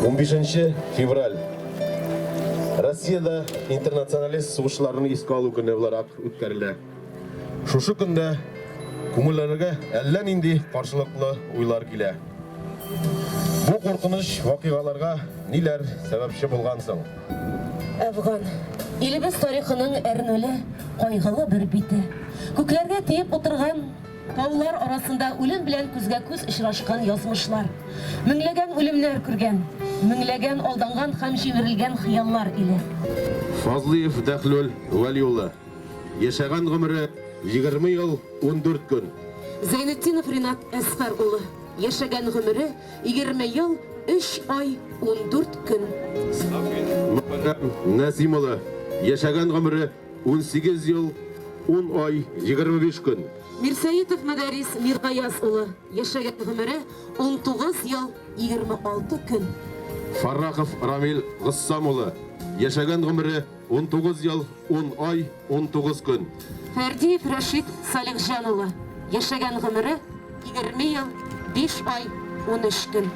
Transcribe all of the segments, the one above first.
15 февраль Россиядә интернационалист сугышларының искә алу көне буларак үткәрелә. Шушы көндә күңелләргә әллә нинди каршылыклы уйлар килә. Бу куркыныч вакыйгаларга ниләр сәбәпче булган соң? Әфган. Илебез тарихының әрнүле, кайгылы бер бите. Күкләргә тиеп утырган Таулар арасында үлем белән күзгә-күз очрашкан язмышлар. Меңләгән үлемнәр күргән. Меңләгән алданган һәм җимерелгән хыяллар иле. Фазлыев Дәхлөл Вәли улы. Яшәгән гомере, егерме ел, ундүрт көн. Зәйнетдинов Ринат Әсфәр улы. Яшәгән гомере, егерме ел, өч ай, ундүрт көн. Мөхәррәм Нәсим улы. Яшәгән гомере. Унсигез ел, ун ай, егерме биш көн. Мирсәетов Мөдәрис Миргаяз улы, яшәгән гомере, унтугыз ел, егерме алты көн. Фаррахов Рамил Гыссам улы, яшәгән гомере, унтугыз ел, ун ай, унтугыз көн. Фәрдиев Рәшит Салихҗан улы, яшәгән гомере, егерме ел, биш ай, унөч көн.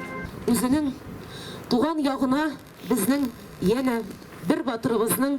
Үзенең туган ягына безнең янә бер батырыбызның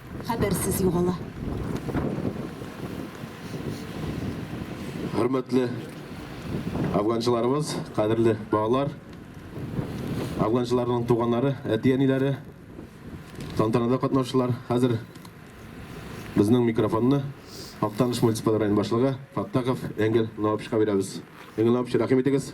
Хәбәрсез югала. Хөрмәтле афганчыларыбыз, кадерле балалар, афганчыларның туганнары, әти-әниләре, тантанада катнашучылар, хәзер безнең микрофонны Актаныш муниципаль район башлыгы Фаттахов Энгель Наупчка бирәбез. Энгель Наупч, рәхим итегез.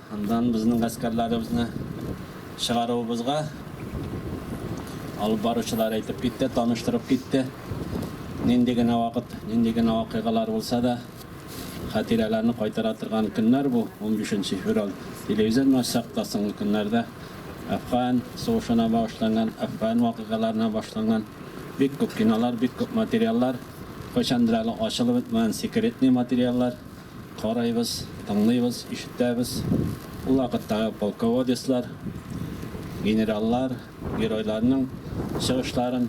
Аннан безнең гаскәрләребезне чыгаруыбызга алып баручылар әйтеп китте, таныштырып китте. Нинди генә вакыт, нинди генә вакыйгалар булса да, хатирәләрне кайтара торган көннәр бу, унбиш нче февраль. Телевизорны ачсак та, соңгы көннәрдә Әфган сугышына багышланган, Әфган вакыйгаларына башланган бик күп кинолар, бик күп материаллар, кайчандыр әле ачылып бетмәгән секретный материаллар. Карайбыз, тыңлыйбыз, ишетәбез, ул вакыттагы полководецлар, генераллар, геройларның чыгышларын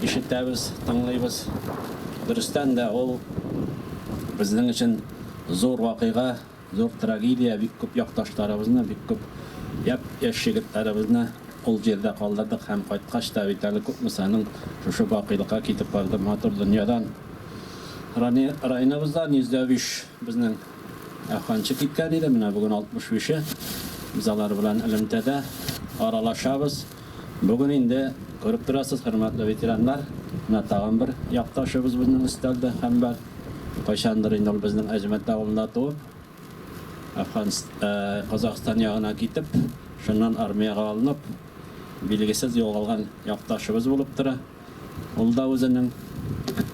ишетәбез, тыңлыйбыз. Дөрестән дә, ул безнең өчен зур вакыйга, зур трагедия, бик күп якташларыбызны, бик күп япь-яшь егетләребезне ул җирдә калдырдык һәм кайткач та бит әле күпме санын шушы бакыйлыкка китеп барды, матур дөньядан. Районыбызда 105 безнең әфганчы киткән иде, менә бүген 65-е. Без алар белән элемтәдә аралашабыз. Бүген инде, күреп торасыз, хөрмәтле ветераннар, менә тагын бер якташыбыз безнең өстәлдә һәм бар. Кайчандыр инде ул безнең Әҗмәт авылында туып, Казакъстан ягына китеп, шуннан армиягә алынып, билгесез югалган якташыбыз булып тора. Ул да үзенең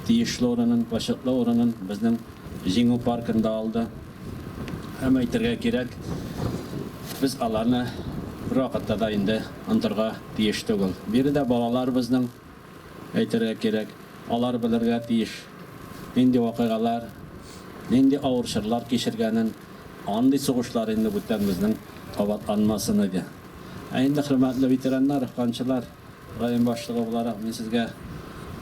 тиешле урынын, почетлы урынын безнең Җиңү паркында алды. Һәм әйтергә кирәк, без аларны бервакытта да инде онтырга тиеш түгел. Биредә балалар безнең, әйтергә кирәк, алар белергә тиеш, нинди вакыйгалар, нинди авыр чорлар кичергәнен. Андый сугышлар инде бүтән безнең кабатланмасын иде. Ә инде, хөрмәтле ветераннар, һанчылар! Район башлыгы буларак, мин сезгә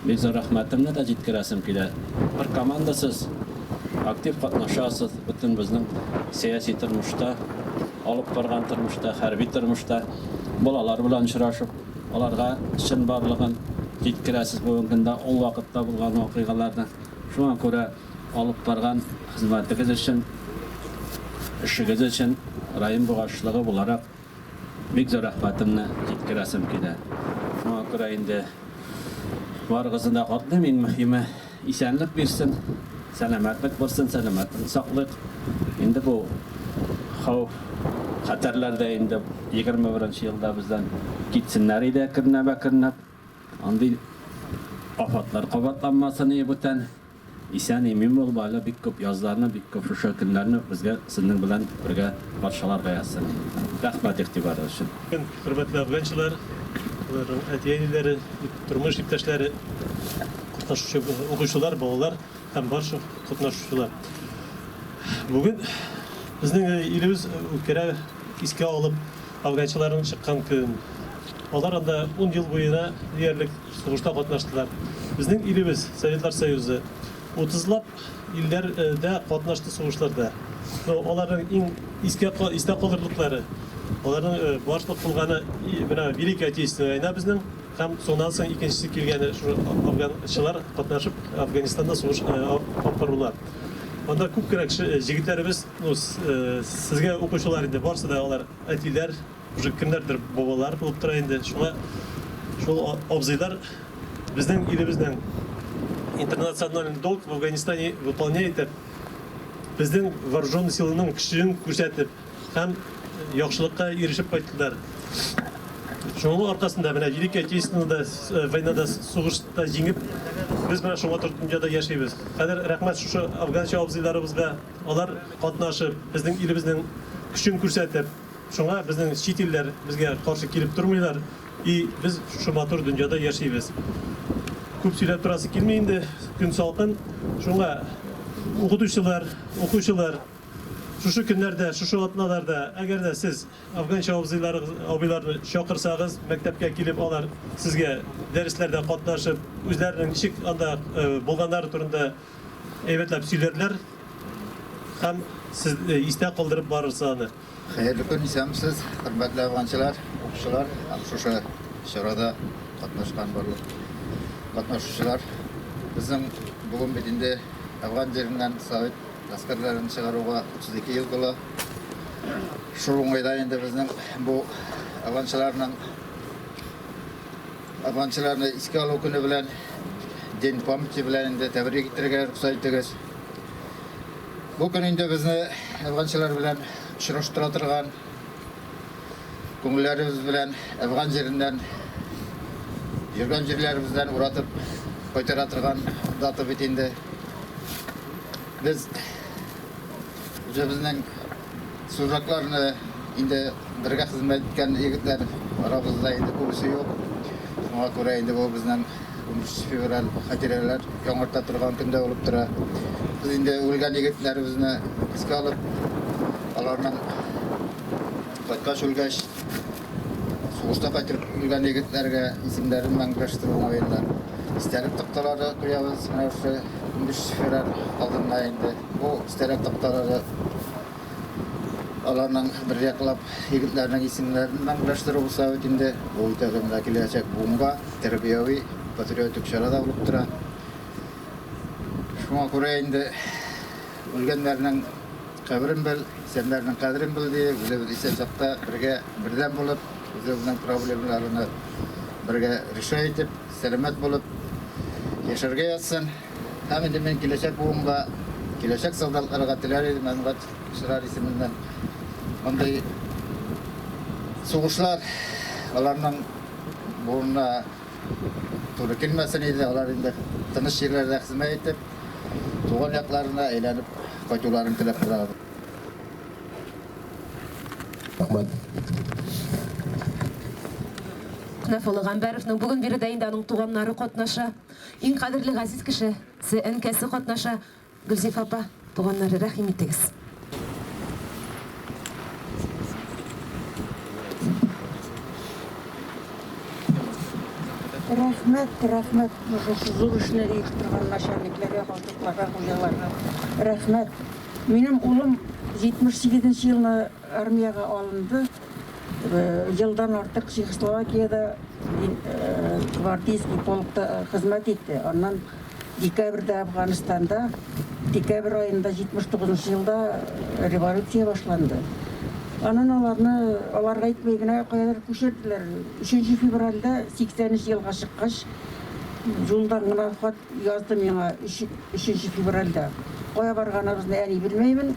бик зур рәхмәтемне дә җиткерәсем килә. Бер команда сез, актив катнашасыз бөтен безнең сәяси тормышта, алып барган тормышта, хәрби тормышта. Балалар белән очрашып, аларга чынбарлыгын җиткерәсез бүгенге көндә, ул вакытта булган вакыйгаларны. Шуңа күрә алып барган хезмәтегез өчен, эшегез өчен район башлыгы буларак, Бик зур рәхмәтемне җиткерәсем килә. Шуңа күрә инде барыгызны да котлыйм. Иң мөһиме, исәнлек бирсен, сәламәтлек булсын, сәламәтлек саклыйк. Инде бу хәүф, хәтәрләр дә инде 21 нче елда бездән китсеннәр иде әкренләп-әкренләп. Андый афәтләр кабатланмасын, ие бүтән. Исән имин булып әле бик күп язларны бик күп шушы көннәрне безгә сезнең белән бергә патшалар гаязсын. Рәхмәт игътибарыгыз өчен. Хөрмәтле афганчылар, аларның әти-әниләре, тормыш иптәшләре, катнашучы укучылар, балалар һәм барча катнашучылар. Бүген безнең илебез үткәрә искә алып афганчыларның чыккан көнен. Алар анда ун ел буена диярлек Сугышта катнаштылар. Безнең илебез, Советлар Союзы, утызлап илләрдә катнашты сугышларда. Ну, аларның иң искә истә калырлыклары, аларның башлык булганы менә Великая Отечественная война безнең һәм шуннан соң икенчесе килгәне шул афганчылар катнашып Афганистанда сугыш алып барулар. Анда күп кенә кеше җегетләребез, ну, сезгә укучылар инде барсы да алар әтиләр, Уже кемнәрдер бабалар булып тора инде. Шуңа шул абзыйлар безнең илебезнең интернациональный долг в Афганистане выполняй итеп, безнең вооруженный силаның көчен күрсәтеп һәм яхшылыкка ирешеп кайттылар. Шуның аркасында менә Великий Отечественный да э, войнада сугышта җиңеп, без менә шуңа торып дөньяда яшибез. Хәзер рәхмәт шушы афганча абзыйларыбызга, алар катнашып, безнең илебезнең көчен күрсәтеп, Шуңа безнең чит илләр безгә каршы килеп тормыйлар и без шушы матур дөньяда яшибез. Күп сөйләп торасы килми инде, көн салкын. Шуңа укытучылар, укучылар, шушы көннәрдә, шушы атналарда, әгәр дә сез афганча абзыйларыгыз, абыйларны чакырсагыз, мәктәпкә килеп алар сезгә дәресләрдә катнашып, үзләренең ничек анда булганнары турында Әйбәтләп сөйләрләр һәм сез истә калдырып барырсыз аны. Хәерле көн, исәнмесез, хөрмәтле афганчылар, укучылар, шушы чарада катнашкан барлык катнашучылар. Безнең бүген бит инде Афган җиреннән совет гаскәрләрен чыгаруга 32 ел була. Шул уңайда инде безнең бу афганчыларның Афганчыларны искә алу көне белән, День памяти белән инде тәбрик итәргә рөхсәт итегез. Бу көн инде безне афганчылар белән очраштыра торган, күңелләребез белән афган җиреннән, йөргән җирләребездән уратып кайтара торган дата бит инде. Без үзебезнең Служакларны инде бергә хезмәт иткән егетләр арабызда инде күбесе юк. Шуңа күрә инде бу безнең 13 февраль хатирәләр яңарта торган көндә булып тора. Без инде үлгән егетләребезне искә алып, аларның кайткач үлгәч, Сугыштан кайтып үлгән егетләргә исемнәрен мәңгеләштерү уңаеннан истәлек такталары куябыз. Менә шушы унбиш февраль алдында инде бу истәлек такталары аларның бер яклап егетләрнең исемнәрен мәңгеләштерү булса бит инде, бу итәгә менә киләчәк буынга тәрбияви, патриотик чара да булып тора. Шуңа күрә инде үлгәннәрнең. Каберен бел, исәннәрнең кадерен бел, ди. Үзебез исән чакта бергә, бердәм булып, үзебезнең проблемаларны бергә решай итеп, сәламәт булып яшәргә язсын. Һәм инде мин киләчәк буынга, киләчәк солдатларга теләр идем, Әнвәт Чырар исеменнән мондый сугышлар аларның буынына, Туры килмәсен иде, алар инде тыныч җирләрдә хезмәт итеп, туган якларына әйләнеп кайтуларын теләп торабыз. Рәхмәт. Нафулла Гамбәровның бүген биредә инде аның туганнары катнаша, иң кадерле газиз кеше се әнкәсе катнаша. Гөлзифа апа, туганнары, рәхим итегез. Рәхмәт, рәхмәт, шушы зур эшне итеп торган начальникларга, башлыкларга, хуҗаларга. Рәхмәт. Минем улым 78 нче елны Армиягә алынды. Елдан артык Чехословакиядә гвардейский полкта хезмәт итте. Аннан декабрьдә Әфганстанда, декабрь аенда 79 нчы елда революция башланды. Аннан аларны, аларга әйтми генә, каядыр күчерделәр. Өченче февральдә 83 елга чыккач, юлдан гына хат язды миңа, өченче февральдә. Кая барганыбызны әни белмәймен.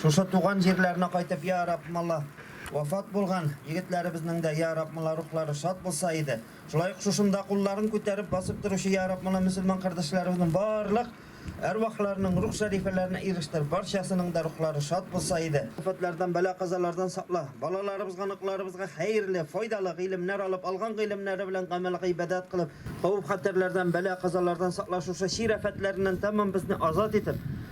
Шушы туган җирләренә кайтып, я Рабб, мала вафат булган егетләребезнең дә, я Рабб, мала рухлары шат булса иде. Шулай ук шушында кулларын күтәреп басып торучы, я Рабб, мала мөселман кардәшләребезнең барлык әрвахларының рух шәрифәләренә ирештер, барчасының да рухлары шат булса иде. Афәтләрдән, бәла-казалардан сакла. Балаларыбызга, оныкларыбызга хәерле, файдалы гыйлемнәр алып, алган гыйлемнәре белән гамәл-гыйбадәт кылып, хәвеф-хәтәрләрдән, бәла-казалардан сакла, шушы чир афәтләреннән тәмам безне азат итеп,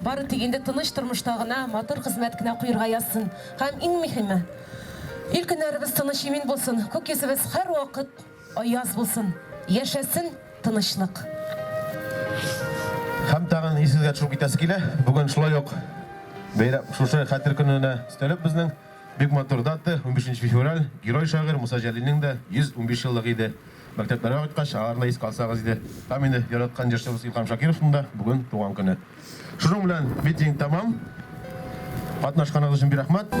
Бары тик инде тыныч тормышта гына, матур хезмәт кенә коерга язсын. Һәм иң мөһиме, ил көннәребез тыныч имин булсын, күк йөзебез һәрвакыт аяз булсын. Яшәсен тынычлык! Һәм тагын исегезгә төшереп китәсе килә, бүген шулай ук бәйрәм, шушы Хәтер көненә өстәлеп безнең бик матур дата, унбишенче февраль, герой шагыйрь Муса Җәлилнең дә 115 еллыгы иде. Мәктәпләргә кайткач, аңарны искә алсагыз иде. Һәм инде яраткан җырчыбыз Илһам Шакировның да бүген туган көне. Шуның белән митинг тәмам. Катнашканыгыз өчен бик рәхмәт.